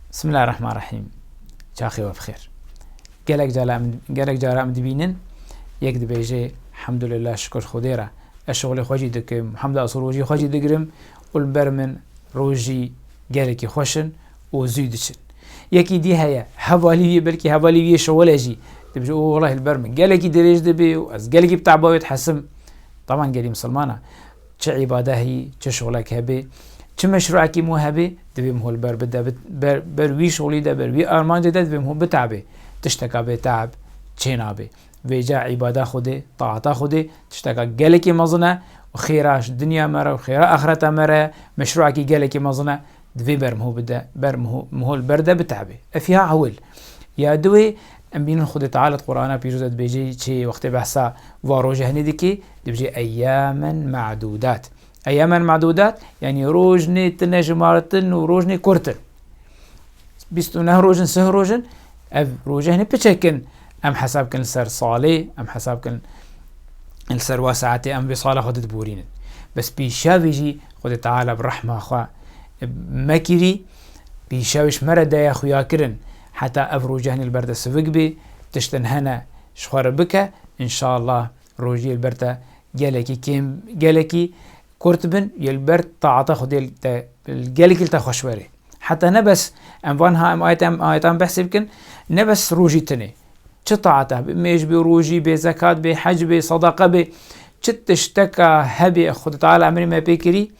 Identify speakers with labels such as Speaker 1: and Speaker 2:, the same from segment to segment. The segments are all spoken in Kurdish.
Speaker 1: Bismillah Rahman Rahîm Çaxê we bixêr. Gelek cara gelek cara em dibînin yek dibêje Hemdulillah şikur Xwedê re ez şixulê xwe jî dikim hemda sorojî xwe jî digirim û li ber min rojî gelekî xweş in û zû diçin. Yekî dî heye hevalî wî belkî hevalî wî şixulê jî dibêje û welahi li ber min gelekî dirêj dibê û ez gelekî bi tebawê dihesim. Taban gelî misilman e. Çi îbade heyî, çi şixulek hebê, çi meşruekî mû hebê, divê min holber bide, ber wî şixulî de, ber wî armancê de divê min hol biteabê. Tişteka bê teab çênabê. Vêca îbada Xwedê, taata Xwedê tişteka gelekî mezin e û xêra dinya me re û xêra axireta me re ye, meşruekî gelekî mezin e, divê ber min hol bide, ber min hol berde biteabê. Efiha ewil ya di wê Em bînin Xwedê Teala di Qur'ana pîroz de dibêje çê yê wextê behsa va roja hinê dike, dibêje eyyamen ma'dudat. Eyyamen ma'dudat yanî roj nê tine jimartin û roj nê kurt in. Bîst û neh roj in, sih roj in. Ev roja hinê piçek in. Em hesab kirin li ser salê, em hesab kirin li ser wa saetê em vê sala xwe didiborînin. Bes pîşavê jî Xwedê Teala bi rehma xwe me kirî, pîşavê ji me re daye xuyakirin. Heta ev rojehn li ber te sivik bê, tiştin hene ji xwe re bike, înşallah rojiyê li ber te gelekî kêm, gelekî kurt bin yê li ber taata Xwedê li te gelekî li te xweş were. Heta ne bes em van ha em ayet em ayetan behsê bikin, ne bes rojî tune, çi taata be, mêj be, rojî be, zekat be, hec be, sedaqa be, çi tişteka hebe Xwedê Teala emrê me pê kirî,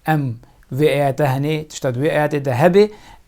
Speaker 1: em vê ayete henê tişta di wê ayetê de hebe,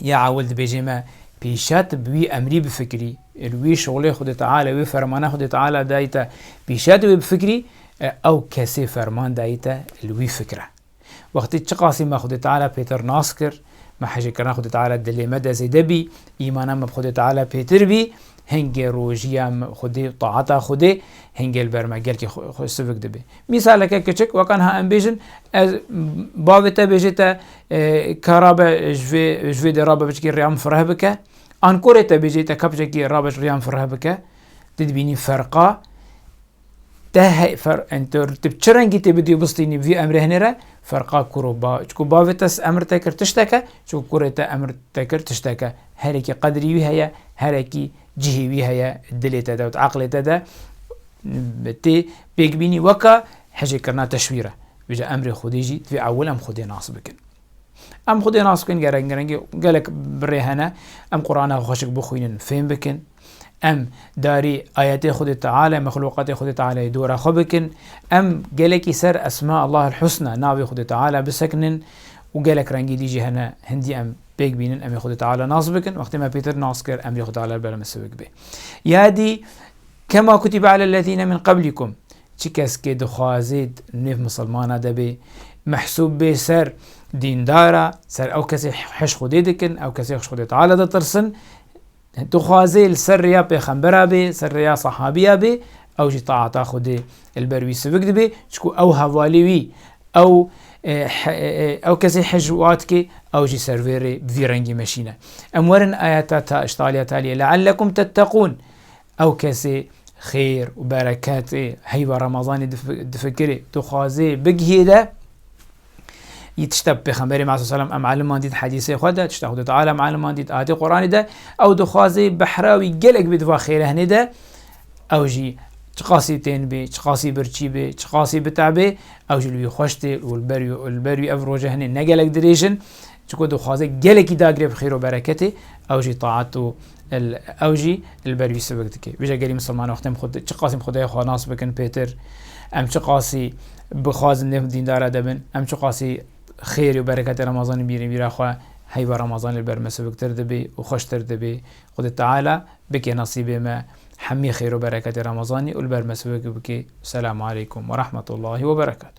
Speaker 1: Ya ewil dibêjê me pîşet bi wî emrî bifikirî, li wî şolê Xwedê Teala, wê fermana Xwedê Teala dayî te, pîşet wê bifikirî, ew kesê ferman dayî te li wî fikire. Wextê çiqasî me Xwedê Teala pêtir nas kir, me hejirkirina Xwedê Teala dilê me de zêde bî, îmana me bi Xwedê Teala pêtir bî, hingê rojiya me Xwedê û taata Xwedê hingê li ber me gelkî xwe sivik dibe. Mîsaleke kiçik, wek anha em bêjin ez bavê te bêjê te ka rabe ji vê ji vê dê rabe biçikî rêya min fireh bike. An korê te bêjê te ka biçekî rabe rêya min fireh bike. Dê dibînî ferqa te hey fer tu çi rengî tê bidî û bistînî vî emrê hinê re ferqa kur û ba çku bavê te emir te kir tişteke çku kurê te emir te kir tişteke herekî qedrî wî heye herekî cihê wî heye dilê te de û eqlê te de tê Pêkbînî weka hicêkirina teşwîr e. Îja emrê Xwedê jî divê ewil em Xwedê nas bikin. Em Xwedê nas bikin gerek girengî gelek birê hene. Em Qurana xweşik bixwînin, fêm bikin. Em darî ayetê Xwedê Teala, mexlûqatê Xwedê Teala'yê dora xwe bikin. Em gelekî ser Esma Allah'el Husna, navê Xwedê Teala bisekinin û gelek rengî dî jî hene hindî em pêk bînin emê Xwedê Teala nas bikin. Wextê me pêtir nas kir emrê Xwedê Teala li ber me siwik bê. Ya dî Kema kutibe ale lezîne min qeblîkum Çi keskê dixwazê nêv misilmana de bê mehsûb bê ser dîndar a, ser ew kesê hiş Xwedê dikin, ew kesê hiş Xwedê Teala ditirsin, dixwazê li ser rêya pêxembera bê, ser rêya sehabîya bê, ew jî taata Xwedê li ber wî sivik dibê, çiku ew hevalê wî, ew ew kesê hiş wa dikê, ew jî ser vê rê bi vî rengî meşîne. Em werin ayeta ta îştaliya taliyê leellekum tetteqûn Ew kesê xêr û bereketê heyva Remezanê difikirê, dixwazê bigihîre, yî tişta bi Pêxemberê Masûm Selam em eliman dît hedîsê xwe de, tişta Xwedê Teala em eliman dît ayetê Quranê de, ew dixwazê behra wî gelek bê di va xêrehinê de, ew jî çiqasî tên bê, çiqasî birçî bê, çiqasî bitebê, ew jî li wî xweş tê û li ber wî ev rojehinê ne gelek dirêj in, Çiko dixwaze gelekî dagire bi xêr û bereketê, ew jî taat û ew jî li ber wî sivik dike. Vîja gelî misilmanan xwedên xwe çi qasî bi Xwedaya xwe nas bikin pêtir, em çi qasî bixwazin nêv dîndara de bin, em çi qasî xêr û bereketê Remezanê bînin vîra xwe, heyva Remezanê li ber me siviktir dibê û xweştir dibê. Xwedê Teala bike nesîbê me hemî xêr û bereketê Remezanê û li ber me sivik bike. Selamu aleykum werehmetullahî weberekatû.